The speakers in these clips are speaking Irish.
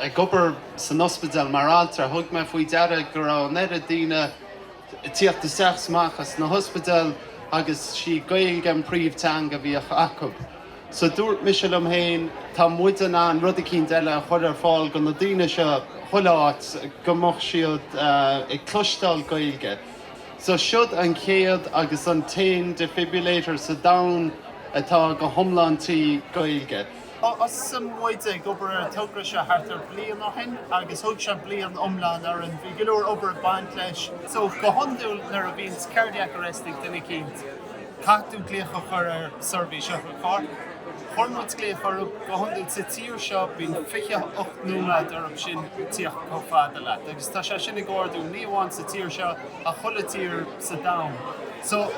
Ag obair san ospidéal mar altra, thug mé faoi deara go raibh an oiread daoine ag tíocht isteach is amach as na hospidéil agus sí Gaeilge an príomhteanga a bhíodh acu. So dúirt mise liom féin, tá muid in ann rud eicínt eile a chur ar fáil do na daoine seo chuile áit go mbeadh siad ag cloisteáil Gaeilge. So seod an chéad agus an t-aon defibrillator sa domhan atá go hiomlán trí Gaeilge. Thosaigh muid ag obair ar an togra seo thart ar bliain ó shin agus thóg sé bliain iomlán orainn. Bhí go leor obair ag baint leis. So, go hiondúil nuair a bhíonns cardiac arrest ag duine eicínt, caithfidh tú glaoch a chur ar seirbhís otharchairr. Chuir muid glaoch orthu. Go hiondúil sa tír seo, bíonn fiche hocht nóiméad orthu sin tíocht chomh fada leat agus tá sé sin ag ardú, ní amháin sa tír seo ach chuile tír sa domhan. So,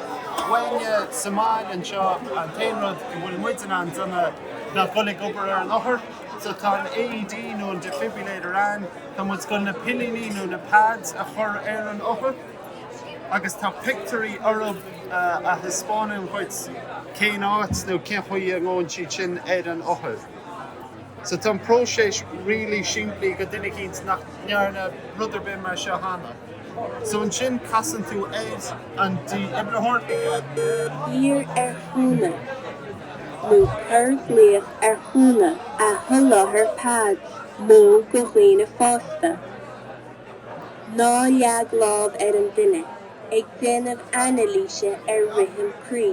bainte as an mboinn anseo, an t-aon rud a bhfuil muid in ann a dhéanamh ná dul ag obair ar an othar. So, tá an AED nó an defibrillator ann, tá muid chun na pillíní nó na pads a chur ar an othar agus tá pictiúirí orthu a thaispeánann dhuit cén áit nó cén chaoi a ngabhann siad sin ar an othar. So, tá an próiseas really simplí do dhuine eicínt nach ndearna rud ar bith mar seo cheana. So ansin casann tú air an dífhibritheoir. Iarr ar chúnamh nó cuir glaoch ar chúnamh a sholáthar Pead mód do dhaoine fásta. Ná leag lámh ar an duine ag déanamh anailíse ar rithim croí.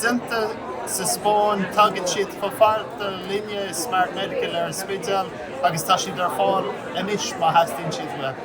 déanta sa Spáinn. Tagann siad chomh fada linne i Smart Medical ar an Spidéal agus tá siad ar fáil anois má theastaíonn siad uaibh.